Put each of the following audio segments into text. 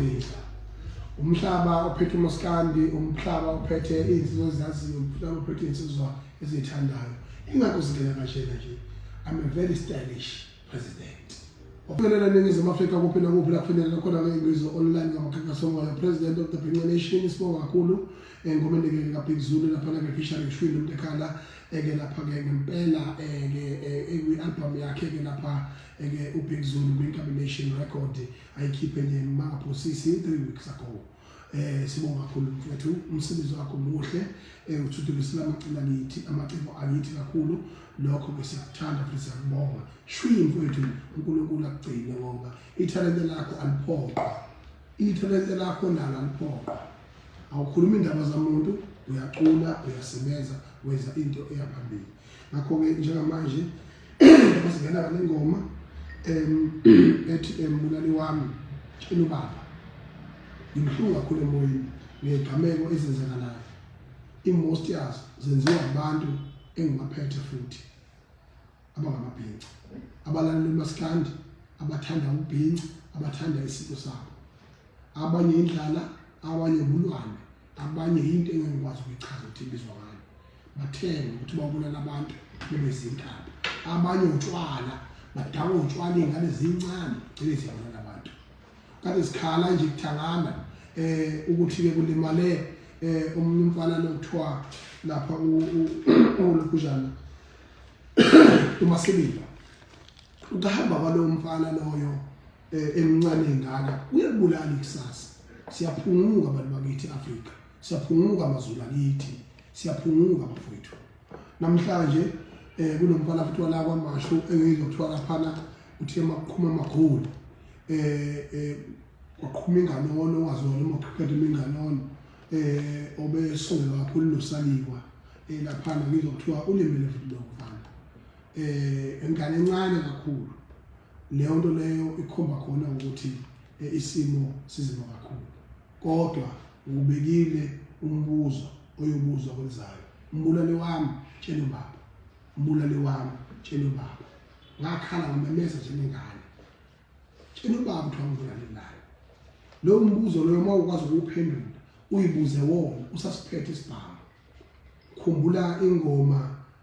Ngidla. Umhlaba ophethe uMaskandi, umhlaba ophethe izinsizwa ezaziyo, umhlaba ophethe izinsizwa ezithandayo. Ingakho singena kashena nje. I'm a very stylish president. Ophelela ningizimu Afrika kuphi nakuphi la kufinyelela khona ngeNgwizo online ngamakhankasa omoya president of the Bhinca Nation isibonga kakhulu eh, engomeni ke kaBig Zulu lapha ke Fishery Shwini umuntu ekhala eke lapha ke ngempela eke eh, eh, ekwi album yakhe ke lapha eke uBig Zulu kwi Nation record ayikhiphe nje mangaphosisi three weeks ago eh sibonga kakhulu mfethu umsebenzi wakho muhle eh uthuthukisela amaciko akithi amaciko akithi kakhulu lokho ke siyakuthanda futhi siyakubonga shwi mfethu uNkulunkulu akugcine ngoba ithalente lakho aliphoqa ithalente lakho nalo aliphoqa awukhulumi indaba zamuntu uyacula uyasebenza wenza into eyaphambili ngakho ke njengamanje Uzingena ngengoma em ethi embulali wami tshela ubaba. Ngimhlungu kakhulu emoyeni ngegameko ezenzakalayo. Imost yazo zenziwa abantu engibaphethe futhi abangamabhinca. Abalaleli bamaskandi abathanda ubhinca abathanda isiko sabo. Abanye indlala abanye bulwane abanye yinto engingikwazi ukuyichaza ukuthi ibizwa ngani bathenge ukuthi babulala abantu bebe zintaba abanye utshwala badakwa utshwala iy'ngane zincane gcine zibulala abantu kade zikhala nje kuthangana um ukuthi-ke kulimale um omunye umfana lokuthiwa lapha ulokhuzana umasibili Ukuhamba kwalowo mfana loyo eh, emncane engaka uyabulala ikusasa. Siyaphunguka abantu bakithi Afrika. Siyaphunguka amazulu akithi. Siyaphunguka bafowethu. Namhlanje eh kunomfana futhi wala kwamashu engizwa kuthiwa laphana uthi emakhuma amakhulu. Eh eh waqhuma inganono ongazona uma uqhubeka iminganono eh obesongelwa kakhulu nosaliwa eh laphana ngizwa kuthiwa ulimele futhi lokho. eh ingane encane kakhulu leyo nto leyo ikhomba khona ukuthi eh, isimo sizima kakhulu kodwa ubekile umbuzo oyobuzwa kwenzayo umbulali wami tshela ubaba umbulali wami tshela ubaba ngakhala ngimemeza njengengane tshela ubaba ukuthi wangibulali naye lowo mbuzo loyo uma ukwazi ukuwuphendula uyibuze wona usasiphethe isibhamu khumbula ingoma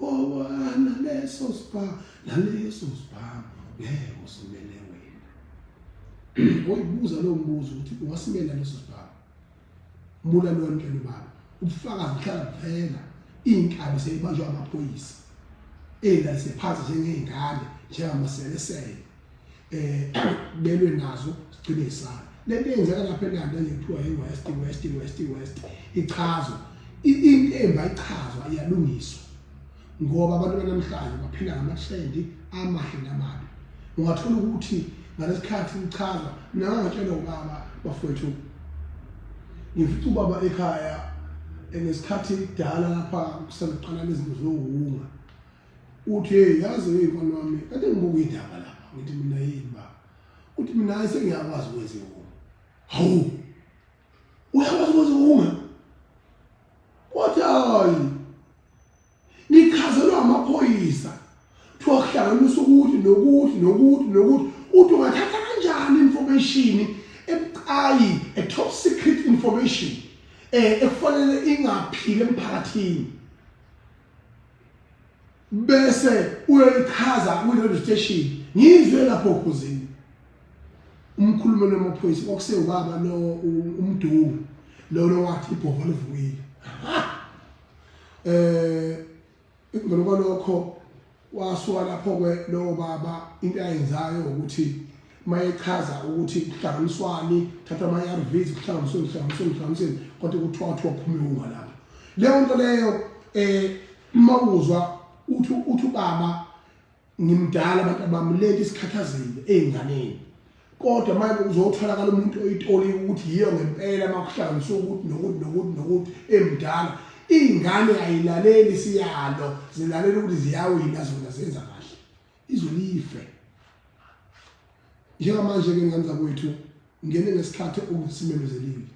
Wawa naleso spa naleso spa ngeke usimele wena. Oyibuza lo mbuzo ukuthi wasimela leso spa. Mbula lo mntwana baba ubufakazi buhlala kuphela inkabi seyibanjwa amaphoyisa. Ela siphathi njengezingane njengamaselesele. eh belwe nazo sigcine isana lento yenzeka lapha eNanda lethiwa iWest West West West ichazwa into emba ichazwa iyalungiswa ngoba abantu banamhlanje baphila ngamathrendi amahle namabi ungathola ukuthi ngalesikhathi uchaza nawe ngatshela ubaba bafowethu ngifica ubaba ekhaya ngesikhathi kudala lapha kuseluqala lezinto zokuhunga Uthi hey yazi hey mfana wami kade ngibuka indaba lapha ngithi mina yini ba. Uthi mina sengiyakwazi ukwenza ihuma. Hawu. Uyakwazi ukwenza ihuma? Wathi hayi. Ngikhazelwa amaphoyisa. Kuthiwa kuhlanganisa ukuthi nokuthi nokuthi nokuthi uthi ungathatha kanjani information ebucayi a top secret information eh ekufanele ingaphili emphakathini bese uyoyichaza kwi-radio station ngizwe lapho khuzini umkhulumeli wamaphoyisa okusewubaba lo umdungu lolo wathi ibhova livukile eh ngalo kwalokho wasuka lapho ke lowo baba into ayenzayo ukuthi mayechaza ukuthi kuhlanganiswani thatha ama-arvs kuhlanganiswe kuhlanganiswe kuhlanganiseni kodwa kuthiwa kuthiwa uphume unga lapho leyo nto leyo um uma uzwa uthi uthi ubaba ngimdala abantu abami le nto isikhathazile ey'nganeni kodwa manje uzotholakala umuntu oyitoli ukuthi yiyo ngempela uma kuhlanganiswe ukuthi nokuthi nokuthi nokuthi emdala iy'ngane ayilaleli siyalo zilalela ukuthi ziyawina zona zenza kahle izwe life njengamanje ke ngane zakwethu ngene ngesikhathi okusimemezelile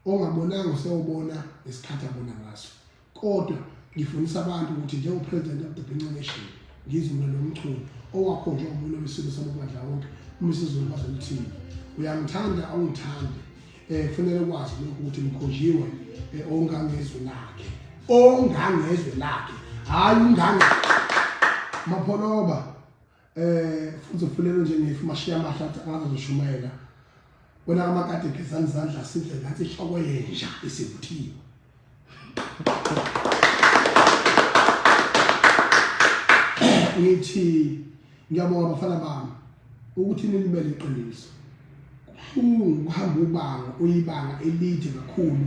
ongabonanga usewubona ngesikhathi abona ngaso kodwa ngifundisa abantu ukuthi njengopresident of the Binca Nation ngizumela nomchunu owakho nje umuntu wesilo samabandla wonke umisizo kwazo lithini uyangithanda awungithandi eh kufanele kwazi lokhu ukuthi mkhonjiwe eh, ongangezwe lakhe ongangezwe lakhe hayi ungange mapholoba eh futhi ufunele nje ngifu mashiya amahle athi angazoshumayela wena kamakade gezani izandla sidle ngathi ihloko yenja isivuthiwe ngithi ngiyabonga bafana bami ukuthi nilibele iqiniso ukuhamba ubanga uyibanga elide kakhulu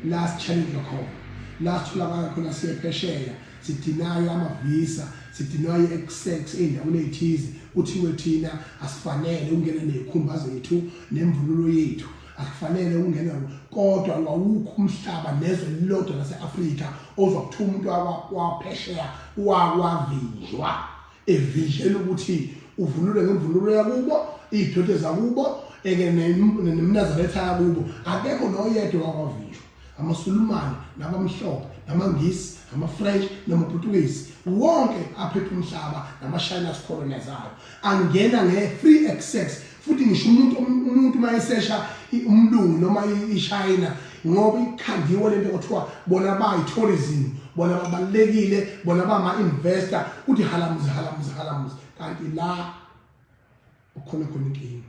la sichallenjwa khona la sitholakala khona siye phesheya sidinayo amavisa sidinayo i-exex ey'ndaweni ey'thize kuthiwe thina asifanele ukungena ney'khumba zethu nemvunulo yethu akufanele ungene kodwa wawukho umhlaba nezwe lilodwa lase-afrika ozokuthiwa umuntu waphesheya wawavinjwa evinjela ukuthi uvunule ngemvunulo yakubo iy'dode zakubo eke nemnazaretha yakubo akekho noyedwa wakwavinjwa amaSulumane nabamhlophe namaNgisi namaFrench namaPutukezi wonke aphepha umhlaba namaShayina asikholonezayo angena nge-free access futhi ngisho umuntu umuntu uma esesha umlungu noma ishayina ngoba ikhandiwe lento kuthiwa bona bayi-tourism bona babalulekile bona bama-investor kuthi halamuzi halamuzi halamuzi kanti la ukhona khona inkinga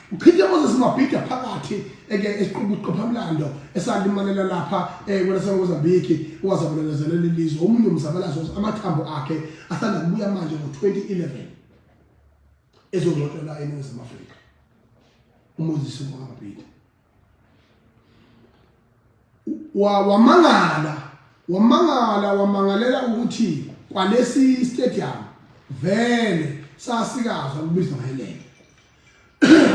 Uchithe Moses Mabhida phakathi eke esiqubu uqophamlando esalimalela lapha eh kwelaseMozambique owazabalelezela lelizwe omunye umzabalazo amathambo akhe asanda kubuya manje ngo-2011 ezongcotshwa la eNingizimu Afrika uMoses Mabhida wamangala wamangala wamangalela ukuthi kwalesi stadium vele sasikazwa kubizwa ngelele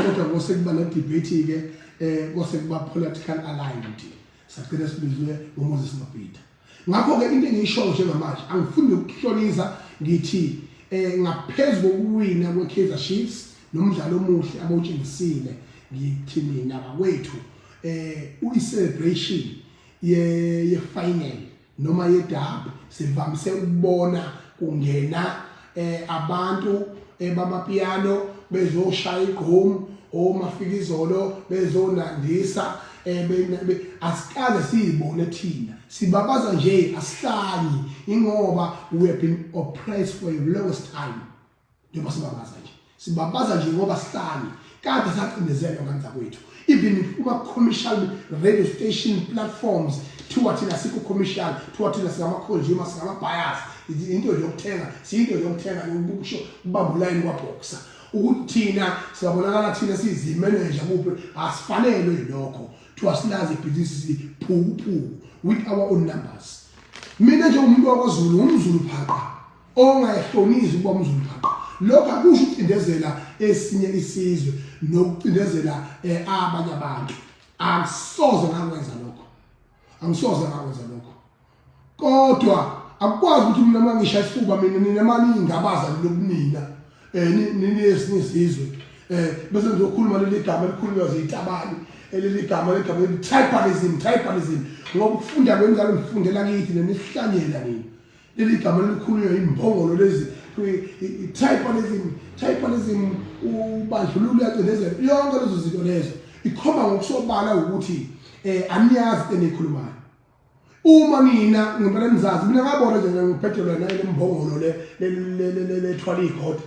kodwa kose kuba no debate ke eh kose kuba political aligned sagcina sibizwe uMoses Mabhida Ngakho-ke into engiyishoyo njengamanje angifuni nokuhloniza ngithi eh ngaphezu kokuwina kweKaizer Chiefs nomdlalo omuhle abawutshengisile ngithi mina bakwethu eh uyi-celebration ye-final noma ye-derby sivamise ukubona kungena eh abantu eh, bamapiano bezoshaya igqom omafikizolo oh, bezonandisa eh, asikaze siyibone thina sibabaza nje asihlanyi ingoba we have been oppressed for a longest time njengoba sibabaza nje Sibabaza nje ngoba sihlale kade sacindezelwa kanzakwethu even kuma commercial radio station platforms kuthiwa thina sikho commercial kuthiwa thina singama consumer singama buyers into yokuthenga siyinto yokuthenga yokusho ubamba ulayini kwa boxer ukuthi thina siyabonakala thina siyizimeneja kuphi asifanelwe yilokho kuthiwa silazi ibhizinisi siphukuphuku with our own numbers mina njengomuntu wakwaZulu ngumzulu phaqa ongayihlonisi ukuba umzulibhaqo lokho akusho ukucindezela esinye isizwe nokucindezela eh, abanye abantu akusoze ngakwenza lokho angisoze ngakwenza lokho kodwa akukwazi ukuthi mina uma ngisha isifuba mina nina maningabaza lobunina eh ninesinye isizwe eh bese ngizokhuluma leli gama elikhulunywa ziyitabani eleli gama legama elithi tribalism tribalism ngoba ukufunda kwenzalo ngifundela kithi nenihlanyela nini Leli gama elikhulunywa yimbongolo lezi i-tribalism, tribalism ubandlululo uyacindezela yonke lezo zinto lezo ikhomba ngokusobala ukuthi eh aniyazi into enikhulumayo uma mina ngempela nizazi mina ngabona nje ngibhedela nayo lembongolo le lethwala ikhotha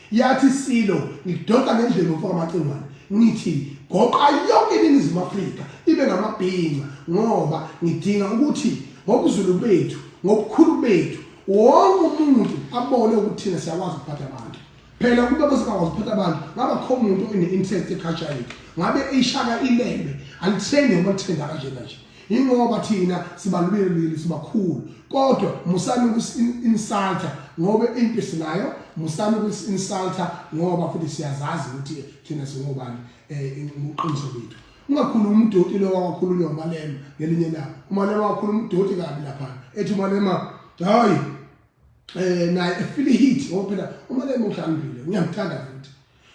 Yathi Silo ngidonsa ngendlebe mfoka Macingwane ngithi goqa yonke iningizimu Afrika ibe ngamabhinca ngoba ngidinga ukuthi ngobuzulu bethu ngobukhulu bethu wonke umuntu abone ukuthi thina siyakwazi ukuphatha abantu phela kuba besingakwazi ukuphatha abantu ngaba kho umuntu one-interest eculture yethu ngabe eyishaka ilembe alithenge uma lithengaka njena nje Ingoba thina sibalulekile sibakhulu kodwa musani ukusinsalta ngoba into sinayo musani ukusinsalta ngoba futhi siyazazi ukuthi thina singobani eh uqiniso bethu ungakhuluma umdoti lo wakhuluma umalema ngelinye labo umalema wakhuluma umdoti kabi lapha ethi umalema hayi eh naye efile heat ngoba phela umalema uhlambile ngiyamthanda futhi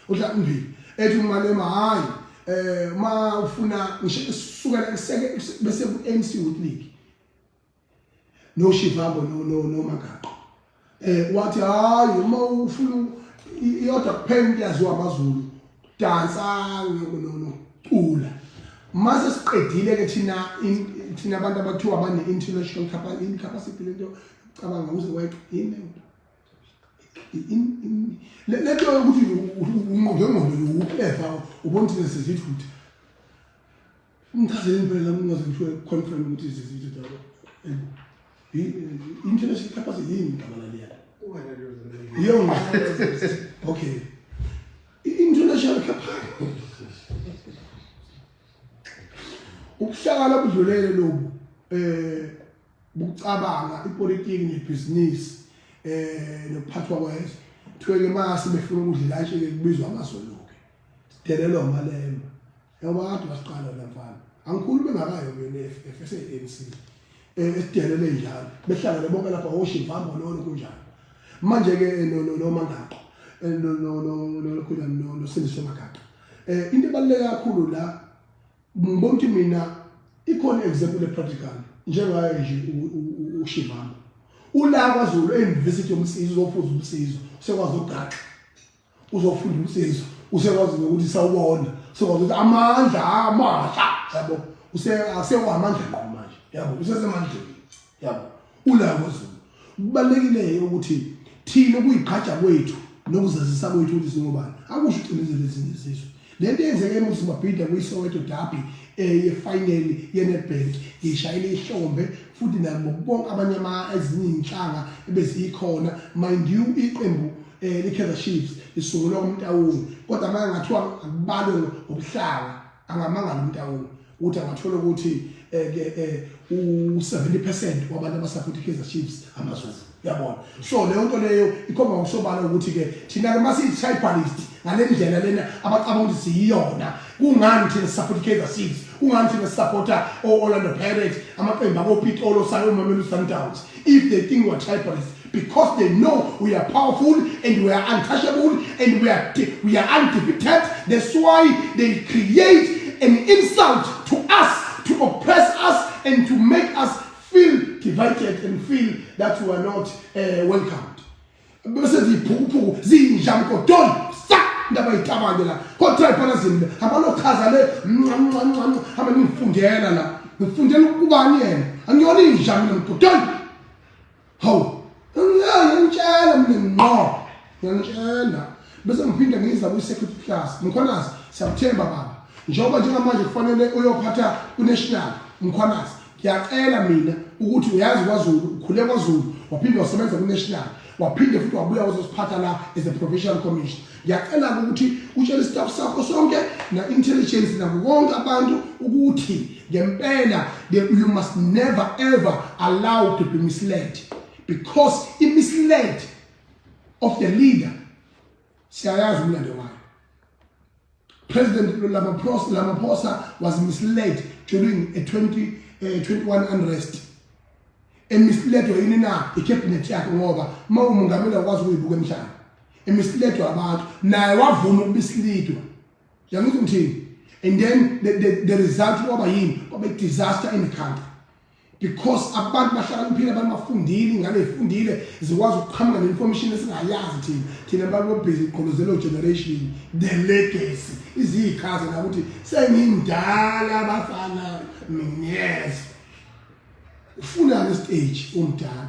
uDlambili ethi umalema hayi eh ma ufuna ngisho kusukela kuseke bese ku MC Youth League no Shivambo no no no Magaqo eh wathi hayi uma ufuna iyodwa kuphela iyaziwa amazulu dansa no no cula mase siqedile ke thina thina abantu abathiwa abane international capacity lento cabanga uze wayiqina lento yokuthi unqongengondo uphepha ubona ukuthi sesithi ukuthi ngichazele impela ungaze ngisho confirm ukuthi sesithi daba international capacity yini igama laliya iyo okay international capacity ukuhlakala budlulele lobu eh ukucabanga ipolitiki nebhizinisi eh nokuphathwa kwezwe kuthiwe-ke mase befuna ukudlela nje-ke kubizwa amazolo-ke sidelelwa amalemba ngoba kade wasiqala la mfana angikhulumi ngakayo kuyona i-ff ese-anc um eh, esidelele njalo behlangane bonke lapha wosho ivambo lolo kunjalo manje-ke eh, nomangaqo eh, nokhulani nosindiso magaqa um into ebaluleke kakhulu la Ngibona ukuthi mina ikhona example practical njengaye nje uShivana. Ula kwaZulu eUniversity yomsizi uzofuza umsizo, sekwazi ugaxa. Uzofunda umsizo, usekwazi ukuthi sawubona, sekwazi ukuthi amandla amasha, yabo. Use asewa amandla ngqo manje. Yabo, usesemandleni. yabo ulako zulu kubalekile ukuthi thina kuyiqhaja kwethu nokuzazisa kwethu ukuthi singobani akusho ucinezele ezinye izizwe lento eyenzeke emuzi mabhida kuyisoweto derby eh yefinal yenetbank ngishayile ihlombe futhi nabo bonke abanye ama ezinye inhlanga ebezikhona mind you iqembu eh likhetha chiefs isungulwa umtawuni kodwa manje ngathiwa akubalwe ngobuhlanga angamangala umtawuni ukuthi angathola ukuthi eh, ke eh, u70% wabantu abasupport iKaizer Chiefs amaZulu yabona so leyo nto leyo ikhomba ngokusobala ukuthi ke thina ke masiyitribalism ngalendlela lena abacabanga ukuthi siyiyona kungani thina support iKaizer Chiefs kungani thina supporta o-Orlando Pirates amaqembu akopitolo sayo umamelu Sundowns if they think we are tribalist because they know we are powerful and we are untouchable and we are, we are undefeated. That's why they create an insult to us, to oppress us, and to make us feel divided and feel that we are not uh, welcomed. bese ziphukuphuku zinja mgodoni sa ndaba yitabane la kodwa ibhola zimbe abalochaza le mncamncamncam hamba nifundela la ngifundela ukubani yena angiyona inja mina mgodoni Hawu, ngangilala ngitshela mina ngqo. Ngiyangitshela. Bese ngiphinde ngiza kwi-security class. Mkhwanazi, siyakuthemba baba. Njengoba njengamanje kufanele uyophatha uNational Mkhwanazi. Ngiyacela mina ukuthi uyazi kwaZulu, ukhule kwaZulu, waphinde wasebenza kuNational, waphinde futhi wabuya wazosiphatha la as a provincial commission. Ngiyacela-ke ukuthi utshele istaff sakho sonke na-intelligence nabo bonke abantu ukuthi ngempela you must never ever allow to be misled because i-misled of the leader siyayazi umlando wayo president lamaphosa lamaphosa was misled during a 20 uh, eh, 21 unrest emisledwa yini na ikhebinethi yakhe ngoba uma umungameli akwazi ukuyibuka emhlane emisledwa abantu naye wavuma ukubisilidwa yangithi ngithini and then the, the, the result kwaba yini kwaba i-disaster in the country because abantu bahlakaniphile abantu bafundile ingane zifundile zikwazi ukuqhamuka ne-information esingayazi thina thina abantu bobhizi igqolozelo generation the legacy iziyikhaze nakuthi sengindala abafana yes ufunani stage omdala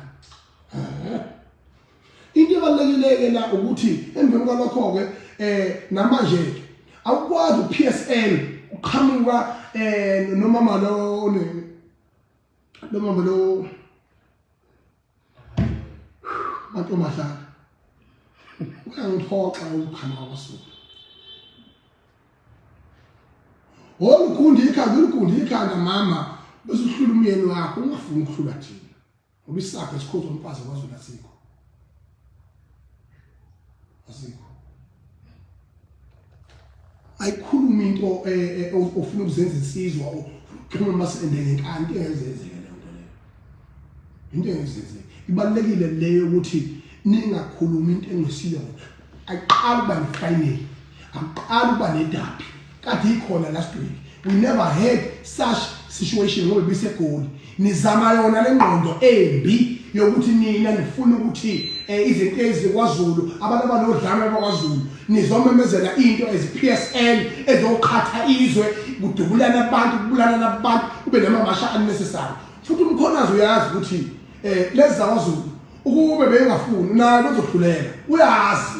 into ebalekileke la ukuthi emveni kwalokho ke eh namanje ke awukwazi uPSL uqhamuka eh nomama lo onini nomama lo mantombazana uyangiphoxa umkhama wakwasuka wolukundi ikhanda ulukundi ikhanda mama bese uhlula umyeni wakho ungafuni ukuhlula thina ngoba isakhe esikhozwa umfazi kwazona sikho asikho ayikhuluma into eh, eh, ofuna ukuzenza insizwa ukhuluma masende ngenkani into engenzenzeke leyo nto leyo into engenzenzeke ibalekile leyo ukuthi ningakhulumi into engesile wena ayiqali uba nefinal ayiqali uba nedabi Kade ikhona last week. We never had such situation ngoba bisegoli. Nizama yona lengqondo embi yokuthi nina nifuna ukuthi eh, izinto ezikwaZulu abantu abanodlame bakwaZulu nizomemezela into as PSL ezoqhatha izwe kudubulana abantu kubulalana abantu kube namamasha unnecessary futhi umkhonazi uyazi ukuthi eh lezi zakwaZulu ukube bengafuni naye kuzohluleka uyazi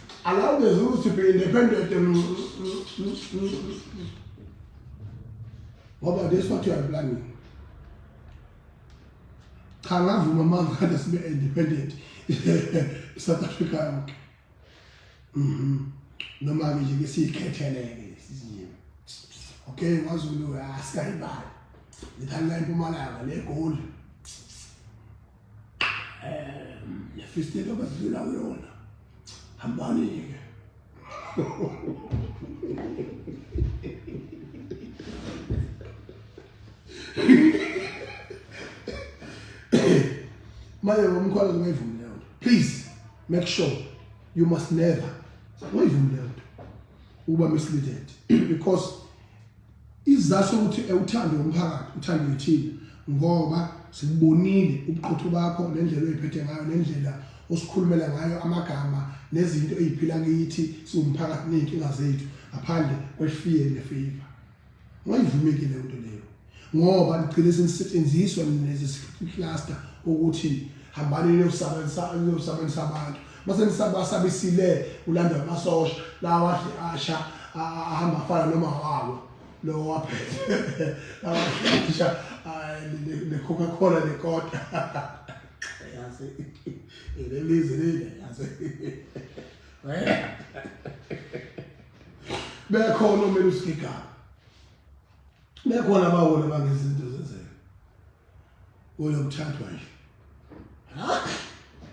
Allow the Zulus to be independent. Mm, mm, mm, what about this? What you are planning? cha ngavuma mangane sibe independent South Africa yonke mhm noma ke nje siyikhetheleke siziwe okay ngazulu asikayibali ngithanda impumalanga le goal lefistelo bazidlula kuyona hambani-ke manje ngomkhwala ungayivumi leyo nto please make sure you must never ungayivumi leyo nto ukuba misleaded because Isizathu sokuthi ewuthande umphakathi uthande yithina ngoba sikubonile ubuqotho bakho nendlela oyiphethe ngayo nendlela osikhulumela ngayo amagama nezinto eziphila kithi siwumphakathi nezinkinga zethu ngaphandle kwefear nefavor wayivumeki le nto leyo ngoba ligcine senisetshenziswa nezi cluster ukuthi hambani niyosabenzisa niyosabenzisa abantu Mase nisabasabisile ulandwa amasosha lawa adle asha ahamba afana noma wawo lo waphethe lawa adle asha ne Coca Cola ne kota yazi ilelize lile yazi bekhona omele usigigaba bekhona abawona bangezinto zenzeka kulo kuthathwa nje hayi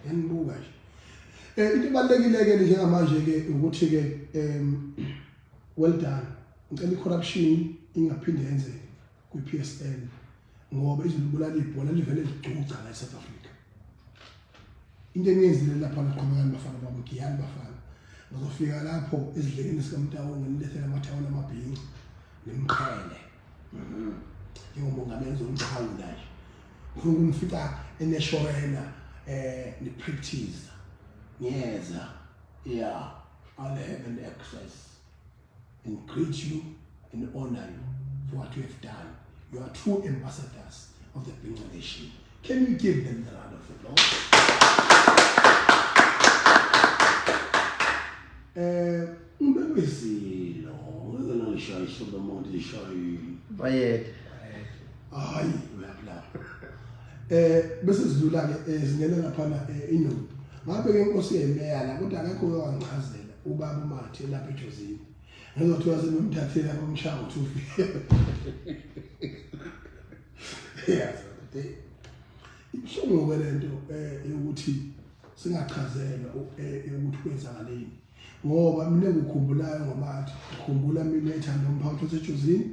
yanibuka nje eh into ebalekile ke njengamanje ke ukuthi ke em well done ngicela icorruption ingaphinde yenzeke kwiPSL ngoba izilibulala ibhola livele ligcuca la eSouth Africa into eniyenzile lapha naqhubekani bafana bami giyani bafana ngizofika lapho ezidlekeni sikamtawonga nilethele amathawula amabhinci nimqhele mhm. njengomongameli zomchawu nje ngifuna ukumfica eneshorena eh nipractice ngiyeza yeah i'll have an exercise and greet you and honor you for what you have done. You are true ambassadors of the Bengal nation. Can you give them the round of applause? Eh, umbemezilo, ngeke ngishaye isobe umuntu lishayile. Bayede. Hayi, uyabla. Eh, bese sidlula ke eh, singena lapha na eh, inombi. Ngabe ke inkosi yemeya la kodwa akekho owangichazela. ubaba uMathi elapha eJozini ngizothi waze nomthathela umshaya ukuthi ufike yes ibuhlungu ke lento eh ukuthi singachazelwa eh, ukuthi kwenzakaleni ngoba mina ngikhumbulayo ngomathi ngikhumbula mina ethanda umphathi osejozini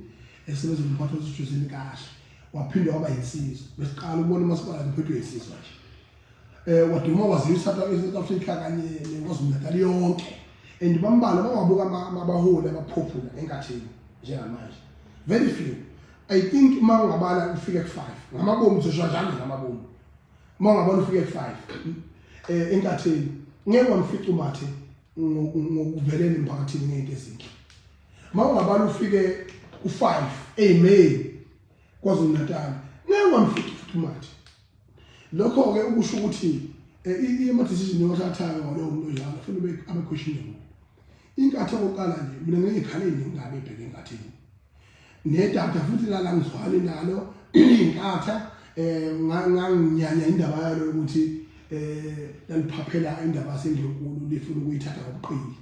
esebenza umphathi osejozini kahle waphinde waba yinsizwa besiqala ukubona umasipala ngiphethwe yinsizwa nje eh waduma waziyo South Africa kanye neNkosi Natal yonke and bambala bawabuka abaholi abaphopula enkathini njengamanje very few i think uma ungabala ufike ku 5 ngamabomu uzoshwa njalo ngamabomu uma ungabala ufike ku 5 eh enkathini ngeke wamfica umathe ngokuvelele emphakathini ngeke ezinhle uma ungabala ufike ku 5 amen kwaZulu Natal ngeke wamfica umathe Lokho-ke ukusho ukuthi eh, ama-decision ewathathayo ngalowo muntu onjalo kufanele abe questionable. Inkathi yokuqala nje mina ngeke ngikhale nengabe ebheke enkathini. Nedata futhi lala ngizwani nalo inkatha eh nganginyanya indaba yalo ukuthi eh laliphaphela indaba senginkulu lifuna ukuyithatha ngobuqili.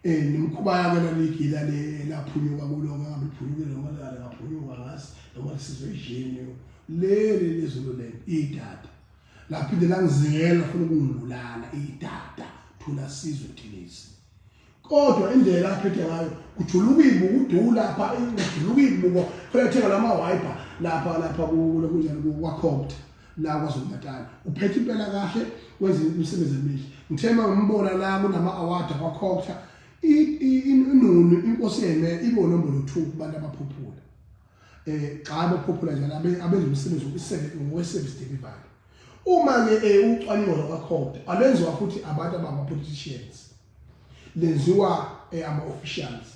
eh nemkhuba yake laligila le laphunyuka kulo ngabe phunyuke noma lale ngaphunyuka ngazi noma lisizwe ejeni leli lezulu le idada laphinde langizingela funa ukungibulala idada thula sizwe thilisi kodwa indlela aphethe ngayo kujuluka ibuku uduku lapha kujuluka ibuku funa ethenga lama wiper lapha lapha kulo kunjani kwakhopta la KwaZulu-Natal uphethe impela kahle wenze imisebenzi emihle ngithe uma ngimbona la kunama-award akwakhokhtha inunu inkosi yeme ibe unombolo two kubantu abaphuphula um xa abaphuphula njalo abenza umsebenzi ngokwesevisi delivery uma-ke um ucwaningo lwakwakhokhtha alwenziwa futhi abantu abangapoliticians lenziwa eh, ama officials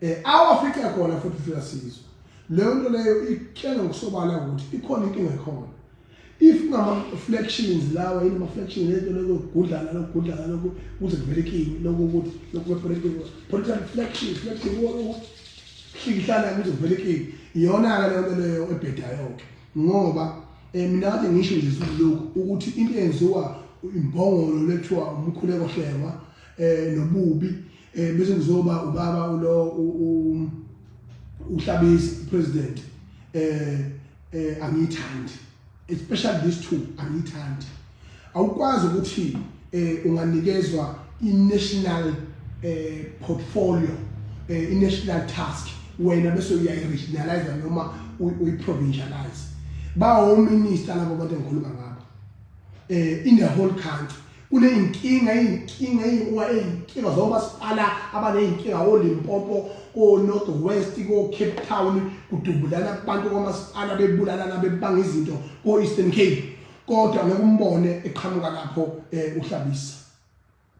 eh awafica khona futhi fika sizwe leyo nto leyo ikutshela ngokusobala ukuthi ikhona inkinga ekhona if ngama-flections lawa yini ama-flection lento lokugudlana lokugudlana loku kuze kuvelekini loku ukuthi lokupolitical flection flection hlikihlana kuze kuvelekini iyona-ke leyo nto leyo ebhedayo-ke Ngoba eh, mina kade ngisho nje siloku ukuthi into eyenziwa imbongolo lethiwa umkhuleko hlengwa eh nobubi eh bese kuzoba ubaba ulo uhlabisi president eh eh angiyithandi especially these two angiyithandi Awukwazi ukuthi eh unganikezwa i-national eh portfolio eh i-national task wena bese uyayi-regionalize noma uyi-provincialize bawominister labo bantu engikhuluma ngabo eh in the whole country kuneyinkinga iyinkinga eyiwa eyinkinga zoba sipala abaneyinkinga oLimpopo koNorth West koCape Town kudubulana abantu kwamasipala bebulalana bebanga izinto koEastern Cape kodwa ngeke umbone eqhamuka lapho eh, uhlabisa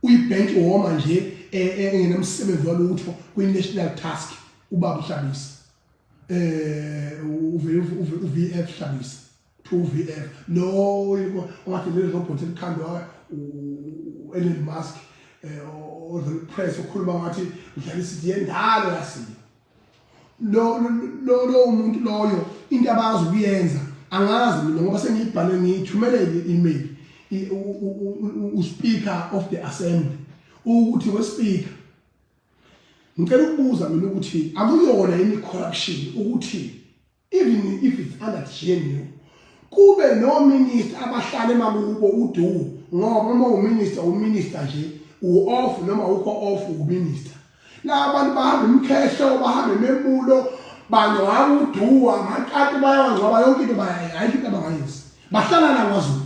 uyibhenki woma nje eh, eh, engenamsebenzi walutho kwi-national task ubaba uhlabisa um u-vf hlabisa to u-vf lo ongathi leli robot elikhandwa u-elon musk um ozolipress okhuluma ngathi udlala isidi yendalo yasiyo lo lo lo umuntu loyo into abazi ukuyenza angazi mina ngoba sengiyibhale ngiyithumele i-email uspeaker of the assembly ukuthi wespeaker ngicela ukubuza mina ukuthi akuyona yini corruption ukuthi even if it's under GNU kube no minister abahlale makubo udu ngoba uma uminister uminister nje u off noma ukho off uminister la abantu bahamba imkhehlo bahamba ememulo bangcwaba uduwa amakati bayawangcwaba yonke into bayayayi into abangayenzi bahlala la kwaZulu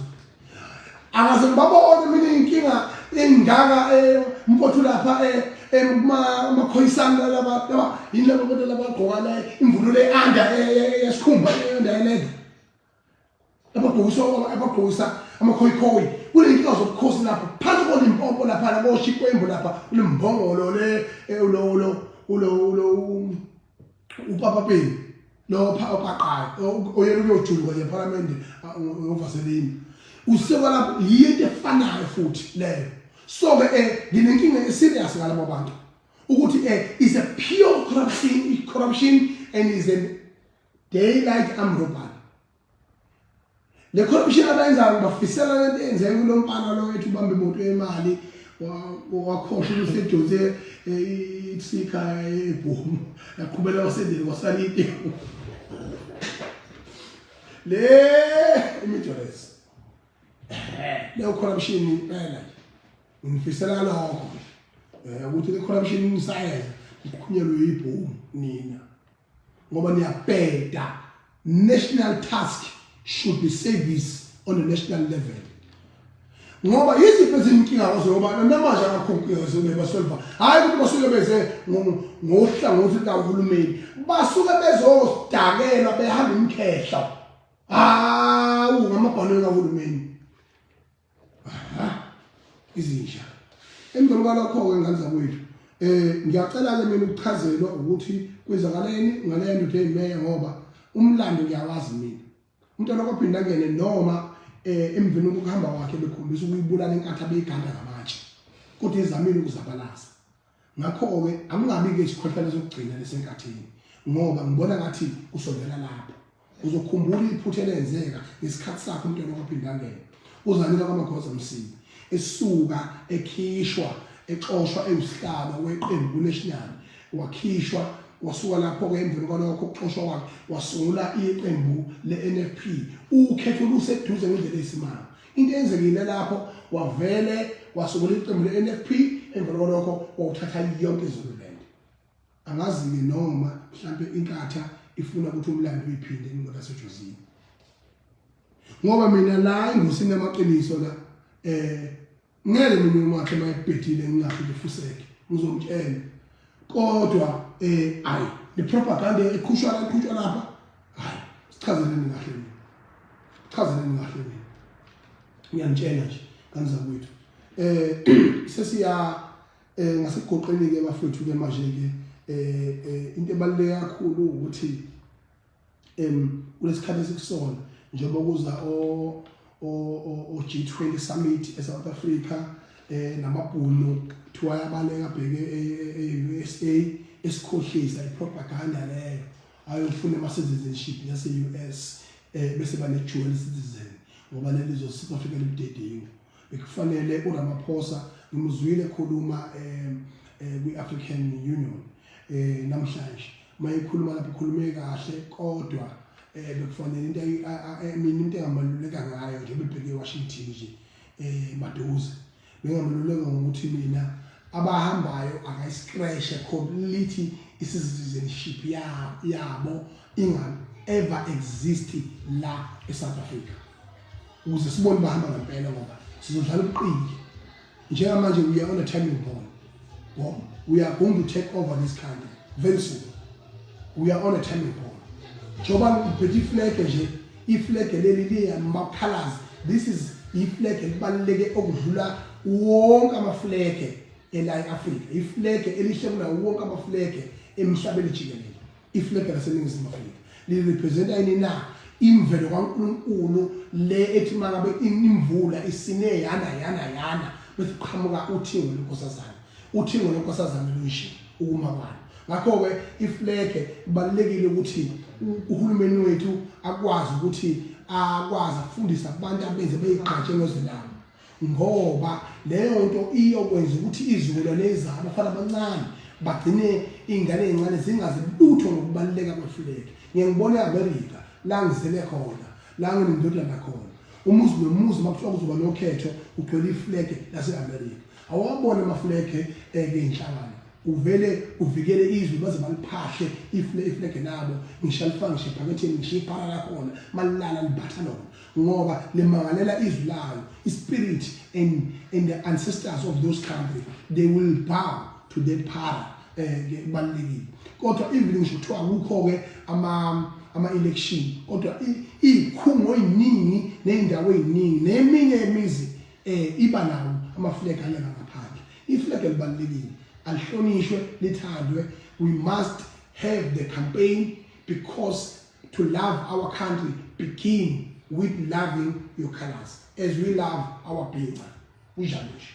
angaze ngibabone mina inkinga engaka eh, mfowethu lapha eh, emakhoyisana eh, laba laba yini laba kodwa laba gqoka la imvunulo eanda yesikhumba eanda yeleda abagqokisa abagqokisa amakhoyikhoyi kunenkinga zobukhosi lapha phansi kolimpopo lapha lakoshikwe imbo lapha ulimbongolo le ulo ulo ulo ulo upapa peni lo pha opaqayo oyena uyojulwa nje parliament ngovaseline usewa lapho yinto efanayo futhi leyo so ke eh nginenkinga eserious ngalabo bantu ukuthi eh is a pure corruption corruption and is a daylight amrobal Le corruption abayenzayo ngibafisela lento eyenzeke kulo mfana lo wethu ubamba imoto yemali wakhohlwa ukuthi edonse eh, ithika ebhomu yaqhubela wasendele kwasalite le imidores le corruption impela ngifisela lokho eh, ukuthi le corruption isayenza iqhunyelwe yibhomu nina ngoba niyabheda national task should be service on a national level ngoba yiziphi ezinkinga kwazo ngoba namanje akakhonkuyezi bebasolva hhayi ukuthi basuke beze ngohlangothi lukahulumeni basuke bezodakela behamba umkhehla hawu ngamabhanelo kahulumeni izinja emveni kwalokho-ke ngane zakwethu um ngiyacela-ke mina ukuchazelwa ukuthi kwenzakaleni ngaleyo ndoda eyimeya ngoba umlando ngiyawazi mina umntwana kwaphinda ngene noma um emveni kokuhamba kwakhe bekhombisa ukuyibulala inkathi abeyiganda ngamatshe kodwa ezamile ukuzabalaza ngakho-ke angingabi-ke isikhohlakalo sokugcina lesenkathini ngoba ngibona ngathi usondela lapho uzokhumbula iphutha elenzeka ngesikhathi sakhe umntwana kwaphindangena uzanika kwamagoza msibi esuka ekhishwa exoshwa ewusihlaba weqembu kunational wakhishwa wasuka lapho-ke emveni kwalokho ukuxoshwa kwakhe wasungula iqembu le-nfp ukhetho luseduze ngendlela eyisimanga into eyenzekile lapho wavele wasukula iqembu le-nfp emva kwalokho wawuthatha yonke izululand angazi-ke noma mhlampe inkatha ifuna ukuthi umlando uyiphinde ingoda sejozini ngoba mina la engosini yamaqiniso la um ngeke mina umakhe mayebhedile ngingaphinde fuseke ngizomtshela kodwa eh ayi ni propaganda eqhushwa eqhutshwa lapha hayi sichazeleni kahle mina chazeleni kahle mina ngiyamtshela nje kanzakwethu eh sesiya eh ngasegoqeni ke bafethu ke manje ke eh, eh into ebaluleke kakhulu ukuthi em kulesikhathi esikusona njengoba kuza o o o G20 summit eSouth Africa eh namabhunu kuthiwa yabaleka bheke eUSA e, e esikhohlisa ipropaganda leyo ayofuna ama citizenship yase US eh bese bane dual citizen ngoba leli zo South Africa libudedinga bekufanele uRamaphosa ngimuzwile ekhuluma eh, eh, kwi-African Union eh, namhlanje uma ekhuluma lapho ukhulume kahle kodwa eh, bekufanele into mina into engamaluleka ngayo nje bebheke eWashington nje eh, maduze bengamaluleka ngokuthi mina abahambayo akayiscratch completely i-citizenship yabo inga ever exist la eSouth Africa ukuze sibone bahamba ngempela ngoba sizodlala ubuqili njengamanje we are on a timing bomb bomb we are going to take over this country very soon we are on a timing bomb njengoba ngiphethe iflege nje iflege leli liyamaphalazi this is iflege elibaluleke okudlula wonke amaflege ela e-afrika iflege elihle kunawo wonke amaflege emhlabeni jikelele Iflegi laseNingizimu Afrika lirepresenta yini na imvelo kaNkulunkulu le ethi mangabe imvula isine yana yana yana bese qhamuka uthingo lenkosazana uthingo lenkosazana lunje ukuma kwalo ngakho-ke iflege kubalulekile ukuthi uhulumeni wethu akwazi ukuthi akwazi ukufundisa abantu abenze beyigqatshe ngozilanga ngoba leyo nto iyokwenza ukuthi izizukulwane ezizayo abafana abancane bagcine iy'ngane ey'ncane zingazi lutho ngokubaluleka kwefuleki ngiye ngibone e-amerika la ngizele khona la nginendodana khona umuzi nomuzi uma kuthiwa kuzoba nokhetho ugcwele ifulege lase-amerika awawabone amafulege eke eh, inhlangano uvele uvikele izwe baze baliphahle ifulege labo ngisho alifake ngisho ephaketheni ngisho iphala lakhona malilala libatha lona ngoba limangalela izwi layo ispirit and and the ancestors of those country they will bow to that power eh kubalekile kodwa even ngisho kuthiwa kukho ke ama ama election kodwa ikhungo eziningi nezindawo eziningi neminye yemizi eh iba nawo ama flag alana ngaphandle i flag elibalekile alihlonishwe lithandwe we must have the campaign because to love our country begin with loving your colors as we love our bhinca kunjalo nje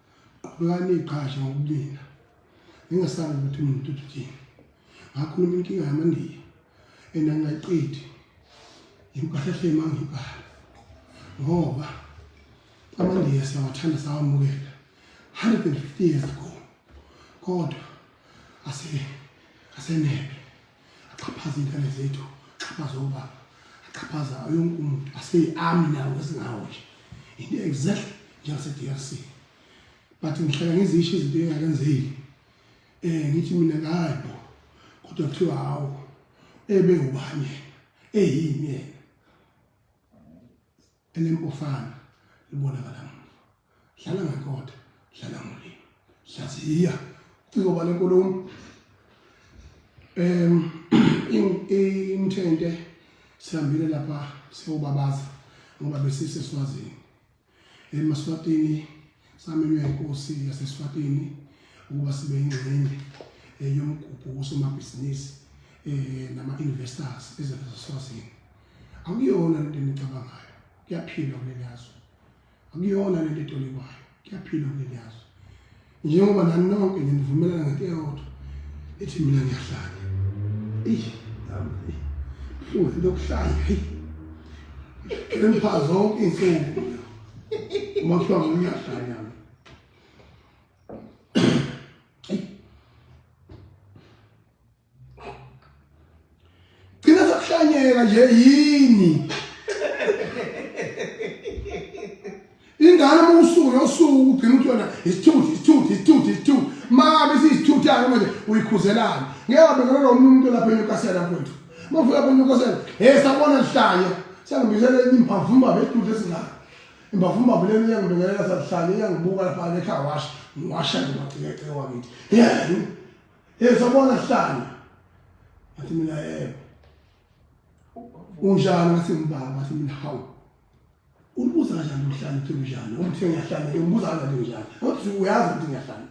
Qhubekani iqhashi ngokulinda. Ningasabi ukuthi umuntu uthini. Ngakhuluma inkinga yamandiya enangayiqedi impahla emangibhala ngoba amandiya siyawathanda sawamukela 150 years ago kodwa ase asenebe axhaphaza iy'ngane zethu axhaphaza obaba axhaphaza yonke umuntu aseyi-ami nawo esingawo nje into exactly njengase-d r c but ngihlala ngizisho izinto engakenzeki um eh, ngithi mina ngayi bo kodwa kuthiwa hawu ebe ubani yena eyini yena elempofana libonakala muva dlala ngenkotha dlala ngolimi hlaziya uciko bale nkulumo um imthente sihambile lapha siyobabaza ngoba besise swazini emaswatini samenywe inkosi yaseswatini ukuba sibe ingxenye eh, yomgubho wosomabhizinisi um eh, nama-investors ezazaswazini Akuyona lento enicabangayo, kuyaphilwa kuleli yazwe. Akuyona lento etolikwayo, kuyaphilwa kuleli yazwe. Njengoba nani nonke nginivumelana ngento eyodwa ethi mina ngiyahlanya. Eish, nami eish. Buhlungu into yokuhlanya, hey. Ngempha zonke iy'nsuku. Uma kuthiwa mina ngiyahlanya. Gcina sakuhlanyeka nje yini? Ingane uma usuku nosuku ugcina ukuthi yona isithuthi isithuthi isithuthi isithuthi makabe siyisithuthayo manje uyikhuzelani ngeke wabekela lo muntu lapha eNewcastle mfowethu uma ufika lapha eNewcastle he sabona lihlanya siyangibizela enye imbhavumba bedude esingaka imbhavumba buleni iyangibekelela sahlanya iyangibuka lapha ekhaya washa ngiwasha ngimagcekece wakithi yeah Yezobona hlanga. Athi mina yebo. Unjani ngathi mbaba ngathi mina hawu. Ubuza kanjani umhlanje uthi unjani? Uthi ngiyahlanya, ngibuza kanjani unjani? Uthi uyazi ukuthi ngiyahlanya.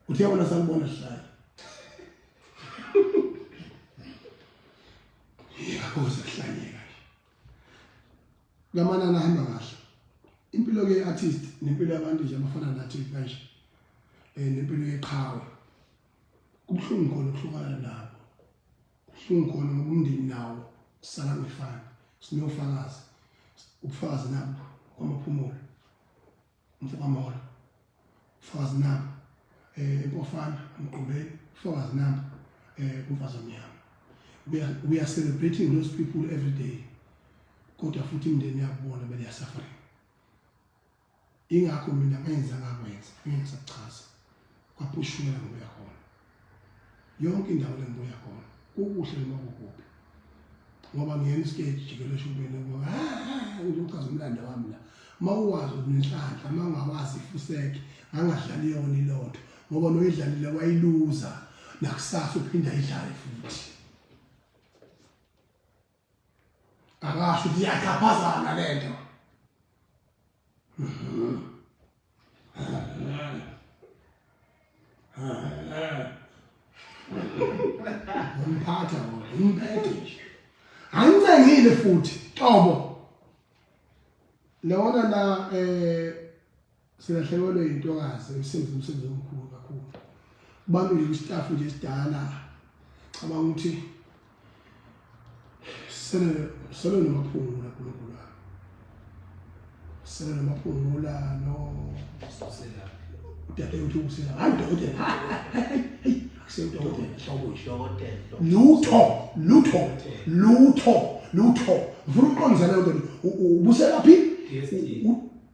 Uthi yabona sakubona hlanya. Yeka kuze hlanyeka. Lamanani ahamba kahle. Impilo ke artist nempilo yabantu nje abafana nathi kanje. Eh nempilo yeqhawe. Kubuhlungu khona ukuhlukana nabo. Kubuhlungu khona ngoba umndeni nawo kusala ngefana. Sinofakazi. Ubufakazi nabo kwamaphumulo. Mfokamolo, Mfokazi Namba, eh Mpofana, Mgqobeni, Mfokazi Namba, eh kumfazi omnyama. We are, we are celebrating those people every day. Kodwa futhi imndeni yakubona bele ya suffering. Ingakho mina ngenza ngakwenza, ngingasachaza. kwapushumela ngokuya khona yonke indawo lengibuya khona kukuhle noma kukuphi ngoba ngiyena isikeji jikelele eshubeni ngoba ngizochaza umlando wami la uma uwazi unenhlanhla uma ungawazi ifuseke angadlali yona ilotho ngoba noyidlalile wayiluza nakusasa uphinde ayidlale futhi Akasho ukuthi iyaxhaphazana le nto. Umphatha umphethe nje. Angicengile futhi, qobo. Lona la eh Silahlekelwe yintokazi emsebenzi umsebenzi omkhulu kakhulu. Kubambile kwistaff nje esidala cabanga ukuthi sele sele nomaphungula kulokula. Sele nomaphungula no sosela. Udade uthi usela hayi dokotela. Kusewudokotela hlobo dokotela. Lutho, lutho, lutho, lutho. Ngifuna uqondisana lento. Ubuselaphi? DST.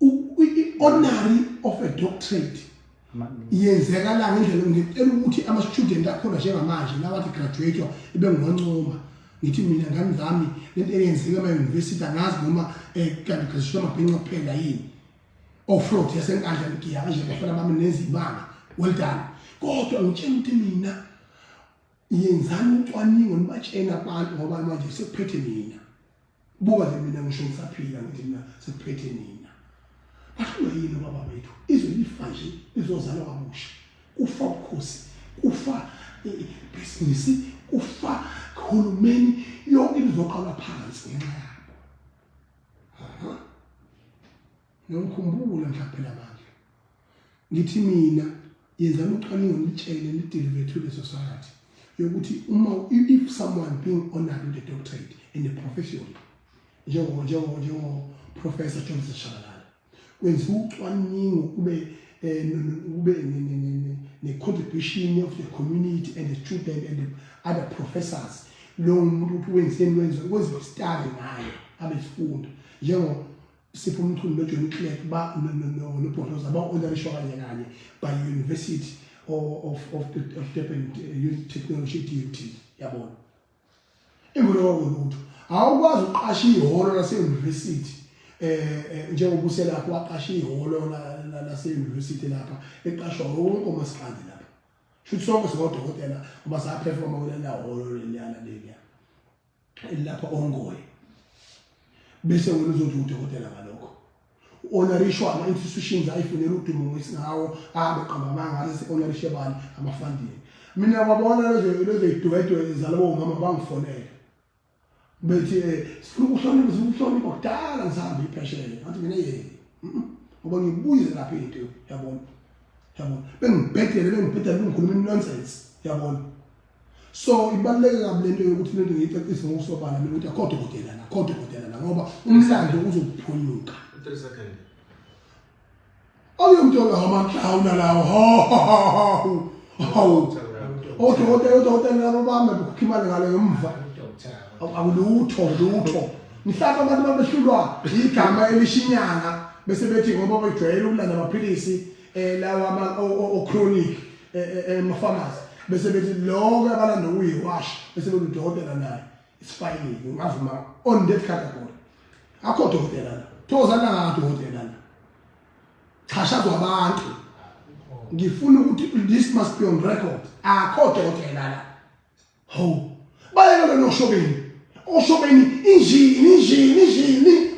i-honary of a doctorate yenzeka la ngendlela ngicela ukuthi ama-student akhona njengamanje lawathi graduate-wa ebengiwancoma ngithi mina ngani zami lento eyenzeka emayunivesithi angazi noma um eh, kanti graduation amabhinca kuphela yini ofrot oh, yasenkandla ngiya kanje ngafana bami nezibanga well done kodwa ngitshela ukuthi mina yenzani ucwaningo nibatshena abantu ngoba manje sekuphethe mina buka nje mina ngisho ngisaphila ngithi mina sekuphethe nina bahlula yini baba bethu izwe lifa nje lizozalwa kabusha kufa ubukhosi kufa ibhizinisi kufa uhulumeni yonke into izoqalwa phansi ngenxa yabo Ngiyonkhumbula mhla phela bandla. Ngithi mina yenzani ucwaningo nitshele nidelive to the society yokuthi uma if someone being honored with a doctorate in a profession njengo njengo njengo professor Johnson Shabalala kwenziwa ucwaningo kube eh, kube ne contribution of the community and the student and the other professors lo muntu uthi wenzeni wenziwa kwenziwa study ngayo abesifunda njengo Sipho Mchunu noJohn Clegg ba nobhotoza ba-onarishwa kanye kanye by University of of of Durban uh, Technology DUT yabona imvulo kwakulutho awukwazi uqasha ihholo lase-university eh, eh njengoba uselapho waqasha ihholo lase-university lapha eqashwa wonke umasikandi lapha shuthi sonke sikodokotela uma saphefoma kulelahholo leliyana leliya elilapha ongoye bese wena uzothi udokotela ngalokho u-onarishwama institutions ayifunela udumo ngesingawo ahambe qamba amanga alise onarishe bani amafandini mina kwabona lezoyidwedwe zalowo mama bangifonele bethi um sifuna ukuhlonipha sifuna ukuhlonipha kudala ngisahambe ipheshele ngathi mina yeni ngoba ngibuye lapha into yabona yabona bengibhedele bengibhedele bengikhuluma inonsense yabona so ibaluleke kabi lento yokuthi lento ngiyicacise ngokusobala mina ukuthi akho dokotela la akho dokotela la ngoba umlando uzokuphunyuka awuyomthola ngamanhlawuna lawo hawu hawu odokotela odokotela labo bami bekhokha imali ngale ngemva akulutho lutho mhlawumbe abantu babehlulwa igama elishinyanga bese bethi ngoba bejwayele ukulanda amaphilisi eh lawa ama o chronic eh, eh, eh mafamasi bese bethi lonke abalanda ukuyiwash bese bethi udokotela naye isifayile ngavuma on that category akho dokotela la thozana ngathi udokotela la chashazwa abantu ngifuna ukuthi this must be on record akho dokotela la Hawu, bayeka lona oshobeni. Oshobeni injini, injini, injini.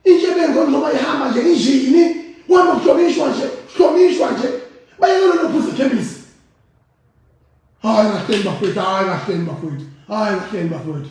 Intshebenzo njengoba ihamba nje injini. Kuhamba kuhlonishwa nje, kuhlonishwa nje. Bayeka lona ophuza ikhemisi. Hayi kahleni bafethu, hayi kahleni bafethu, hayi kahleni bafethu.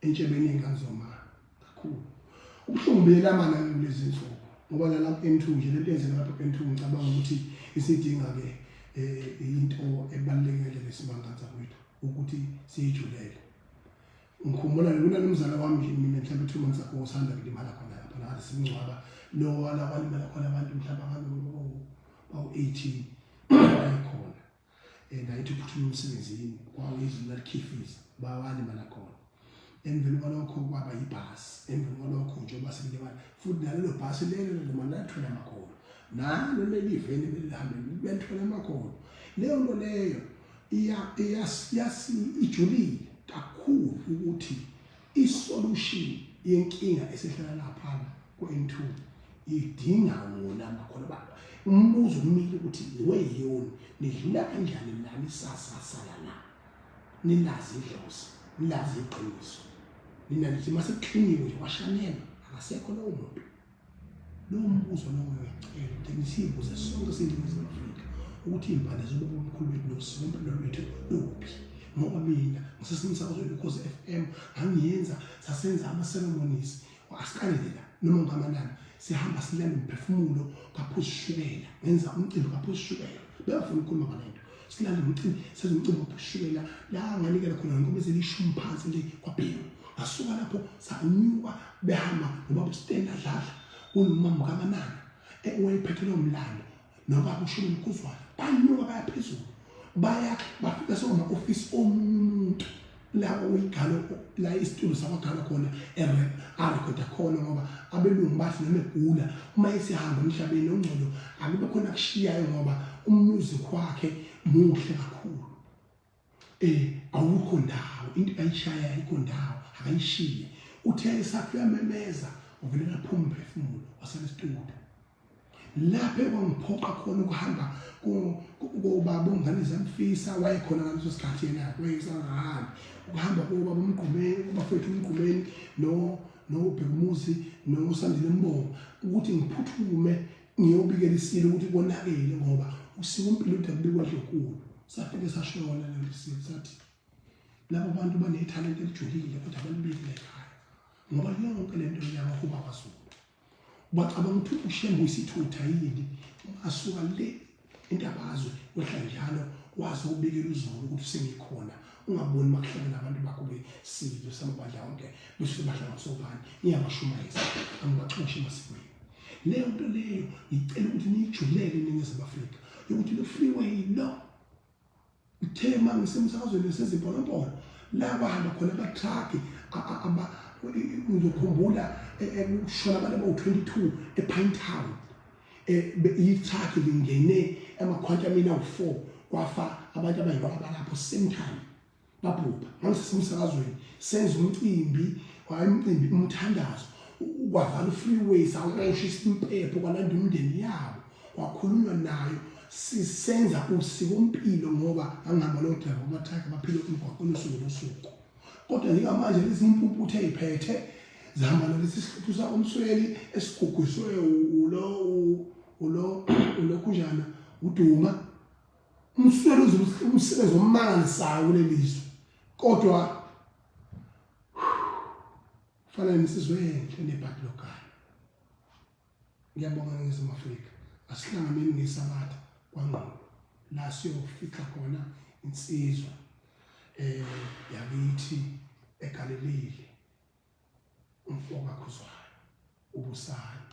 entshebeni engazo ma kakhulu ubuhlungu buyelama nayo kulezi nsuku ngoba nalapha M2 nje lento yenzeka lapha M2 ngicabanga ukuthi isidinga ke eh, into ebalulekile lesimangantsa kwethu ukuthi siyijulele ngikhumbula lona nomzala wami nje mina mhlawumbe two months ago usanda kulimala khona lapha la simngcwaba lo wala kwalimala khona abantu mhlawumbe abantu bawu-18 khona and ayithi ukuthunywa umsebenzini kwawezulu lalikhifiza bawani balakhona emveni kwalokho kwaba yibhasi emveni kwalokho njengoba sekulewana futhi nalelo bhasi lelo noma nathola amakhono nalo leli veni belihambe belithola amakhono leyo nto leyo ijulile kakhulu ukuthi isolution yenkinga esihlala laphana ku-N2 idinga wona makhona baba umbuzo umile ukuthi weyoni nidlula kanjani nani sasasala na nilazi idlozi nilazi iqiniso nina nithi masekuqhiniwe washanela akasekho lowo muntu Lowo mbuzo lowo uyacela ukuthi siyibuze sonke siyibuze Afrika ukuthi iy'mpande zobubi omkhulu bethu nosiko impilo lwethu luphi ngoba mina ngisesemsakazweni because f m ngangiyenza sasenza ama-ceremonies asikanela noma ngamanani sihamba silale umphefumulo kaphuzishukela ngenza umcimbi kaphuzishukela bengafuni ukukhuluma ngale nto silala ngomcimbi senza umcimbi wokushukela la nganikela khona ngoba selishumi phansi le kwabhekwa ngasuka lapho sanyuka behamba nobaba uStenda adlala unumama kamanana ewayephethe lo mlando nobaba ushumi mkhuzwana banyuka bayaphezulu baya bafika sokuma office omunye umuntu la uyigalo la isitulo sabagalo khona erep arekoda khona ngoba abelungu bathi noma egula uma esihamba emhlabeni ongcono akube khona kushiyayo ngoba umuzi kwakhe muhle kakhulu eh awukho ndawo into ayishaya ayikho ndawo akayishiye uthe esakhe uyamemeza uvele ngaphuma phefumulo waselesitulo lapho ekwangiphoqa khona ukuhamba kobaba ongane zamfisa wayekhona ngaleso sikhathi yena wayesangahambi ukuhamba kobaba umgqumeni ubafethu umgqumeni no nobhekumuzi nosandile mbongo ukuthi ngiphuthume ngiyobikela isilo ukuthi konakele ngoba usiko impilo udabulekwa dlokhulu safike sashona lelo silo sathi labo bantu banethalente elijulile kodwa balibikile ekhaya ngoba yonke le nto yabahuba kwazulu Bacabanga ukuthi uShembe uyisithutha yini asuka le intabazwe wehla njalo waze ubikela uzulu ukuthi sengikhona ungaboni makuhlale nabantu bakho besidlo samabandla onke bese badla ngasobani ngiyabashumayeza angibaxoshi masikweni leyo nto leyo ngicela ukuthi niyijulele iningizimu afrika yokuthi lo freeway lo Uthe uma ngisemsakazweni sezimponompolo la bahamba khona abathrakhi ngizokhumbula kushona abantu abawu-22 epine town ithrakhi lingene amakhwantamini awu-4 kwafa abantu abayinqwaba lapho same time babhubha ngangisesemsakazweni senza umcimbi wayemcimbi umthandazo kwavala ufreeway sakushisa impepho kwalanda umndeni yabo kwakhulunywa nayo sisenza usiko mpilo ngoba angihamba lo driver amathakhe baphile umgwaqo losuku losuku kodwa njengamanje lezi impumputhe eziphethe zihamba nalesi sihluthu sakomsweli esigugusiwe ulo ulo ulokhunjana uduma Umsweli uze umsebenzi omangalisayo kuleli zwe kodwa fanele nisizwe enhle nebhadi lokhaya ngiyabonga ngizimu Afrika asihlanganeni ngesabatha kwangqondo la siyofica khona insizwa eh yakithi egalelile umfoka khuzwayo ubusana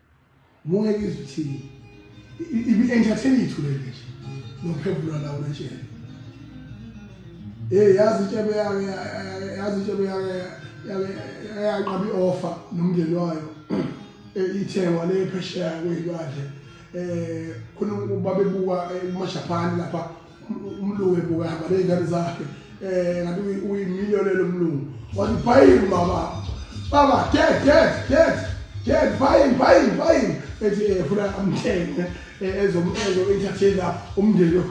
Munye ngizwe thini. Ibi entertain ithu le nje. Nophevula la unetshela. Eh yazi tshebe yake yazi tshebe yake yake yaqaba ioffer nomndeni wayo. Eh ithengwa le phesheya kwezilwandle. Eh khona babebuka eMashapani lapha umlungu ebukaka nezingane zakhe eh ngathi uyimiliyonela umlungu wathi buying baba baba dad dad dad dad buying buying buying ethi eh, funa amthenge eh, ezomenza entertainer umndeni